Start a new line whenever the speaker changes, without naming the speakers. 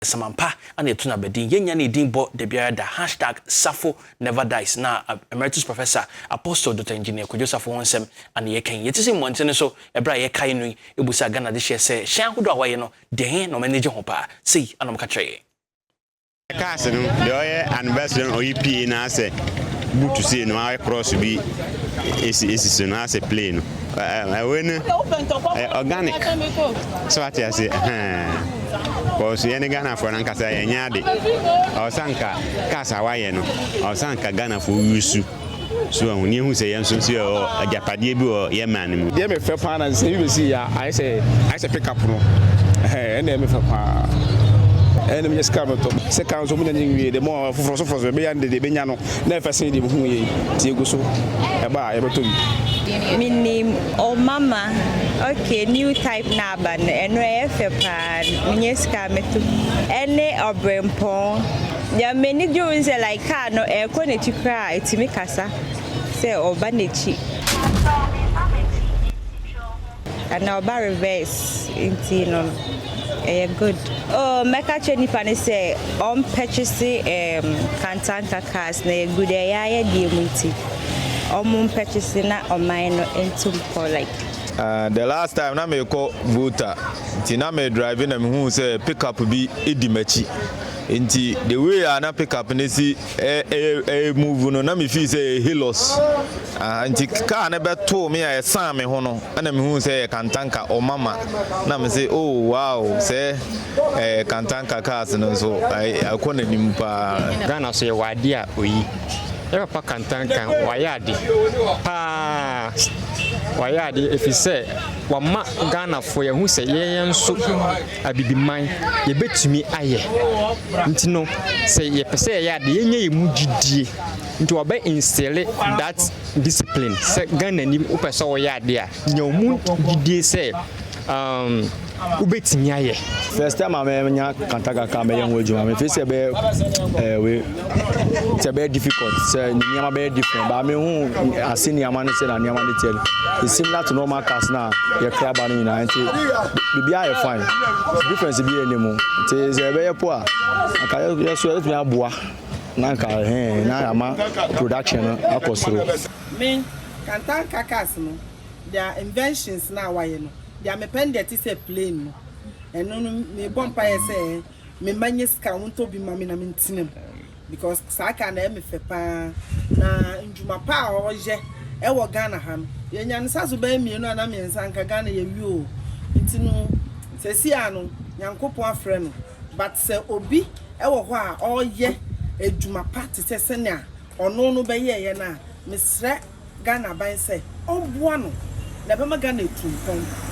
Samampa ana etu na bɛdin yɛnya ne edin bɔ dabiara da hashtag Safo never dies na Emeritus Professor Apostle Dr Engineer Kwadwo Safo ho nsɛm ana yɛka yi. Yɛte sɛ mmɔnten no so ɛberɛ a yɛkae no yi ɛbu sɛ Ghana adehyeɛ sɛ hyɛn ahodoɔ a wɔayɛ no deɛ he na wɔn ani gye ho paa? Sei ana wɔka kyerɛ yɛn. Cars
no deɛ ɔyɛ anniversary no ɔyi pie na asɛ boot sei no ayɛ cross bi ɛsi ɛsi so na asɛ play no. wei no ɛyɛ organic so wate ase kɔɔso yɛ ne ghanafoɔ no ankasa yɛnyɛ ade ɔsa nka cars a wayɛ no ɔsa nka ghanafoɔ wusu so ahu ne ehu sɛ yɛn nso nso yɛ agyapadeɛ bi wɔ yɛ man no mu. deɛ mefɛ paa na sɛ
ebi bɛsi yɛ ayɛ sɛ ayɛ sɛ pick up no ɛna mefɛ paa ɛna menya sika no tɔ sika nso menya ne nwie de mo foforɔ so foforɔ so ɛbɛya no deɛ ɛbɛnya no Dɛn fɛ sen deɛ muhuu yei, nti egu so, ɛba a, yɛbɛtɔ bi. Menim
o mama ok new type na aba no ɛno ɛyɛ fɛ paa menyɛ sika meto ɛne ɔbrempɔn deɛ m'ani gye ho sɛ like car no ɛkɔ n'akyi koraa ɛtumi kasa sɛ ɔba n'akyi Ana ɔba reverse nti no ɛyɛ good. Oh mɛka kyerɛ nipa no sɛ ɔn purchase ehm kantanka cars na ɛyɛ good ɛyɛ a yɛ deɛ mu nti ɔmo mpurchase na ɔman no ntu mpɔ like. Aah the last
time na merekɔ Volta nti na me drive na mehuu sɛ pick up bi di m'akyi nti the way a na pick up no si. Ɛyɛ move no na mefii sɛ ɛyɛ Hilux nti kaa no bɛtoo me a ɛsaan me ho no na mehuu sɛ ɛyɛ Kantanka ɔmama na me se oh wow sɛ Kantanka cars no nso ɛkɔ n'anim paa. Ghana so yɛwɔ adeɛ
a oyi yɛ papa Kantanka wayɛ ade paa wayɛ ade ɛfiri sɛ wama Ghanafoɔ yɛahu sɛ yɛn yɛn nso. Abibiman yɛbɛtumi ayɛ nti no sɛ yɛpɛ sɛ yɛyɛ ade yɛnya yɛ mu gyidie nti wɔbɛ instille that discipline sɛ Ghana ni wopɛ sɛ wɔyɛ ade a nya ɔmu gyidie sɛ um, wobɛtumi ayɛ. First time a mɛnya
kanta kakra mɛyɛ ho adwuma mefiri sɛ bɛyɛ ɛɛ eh, wei. sɛ ɛbɛyɛ difficult sɛ nneɛma bɛyɛ different baa mehu ase nneɛma no sɛ na nneɛma no teɛ no it's similar to normal cars na yɛkra ba no nyinaa nti biribiara yɛ fine difference bi yɛ ne mu nti sɛ ɛbɛyɛ po a anka yɛ so yɛtumi aboa na anka ɛhɛn na ama production no akɔ soro. me
kantanka cars no their inventions na wayɛ no deɛ mepɛ no deɛ ɛte sɛ plane no ɛno no mebɔ mpaeɛ sɛ me mma nyɛ sika a wɔntɔ bi mma me na mentena mu because saa car no ɛyɛ me fɛ pa ara na ndwuma pa a ɔyɛ ɛwɔ Ghana ha no yɛnya no sa so bɛyɛ mmienu anaa mmiɛnsa anka Ghana yɛwie o nti no sɛsi a no Nyankopɔn afrɛ no but sɛ obi ɛwɔ hɔ a ɔyɛ adwuma pa te sɛ sɛnea ɔno no bɛyɛɛyɛ no a mesrɛ Ghana aban sɛ ɔmboa no na ɛbɛma Ghana atu mpɔn.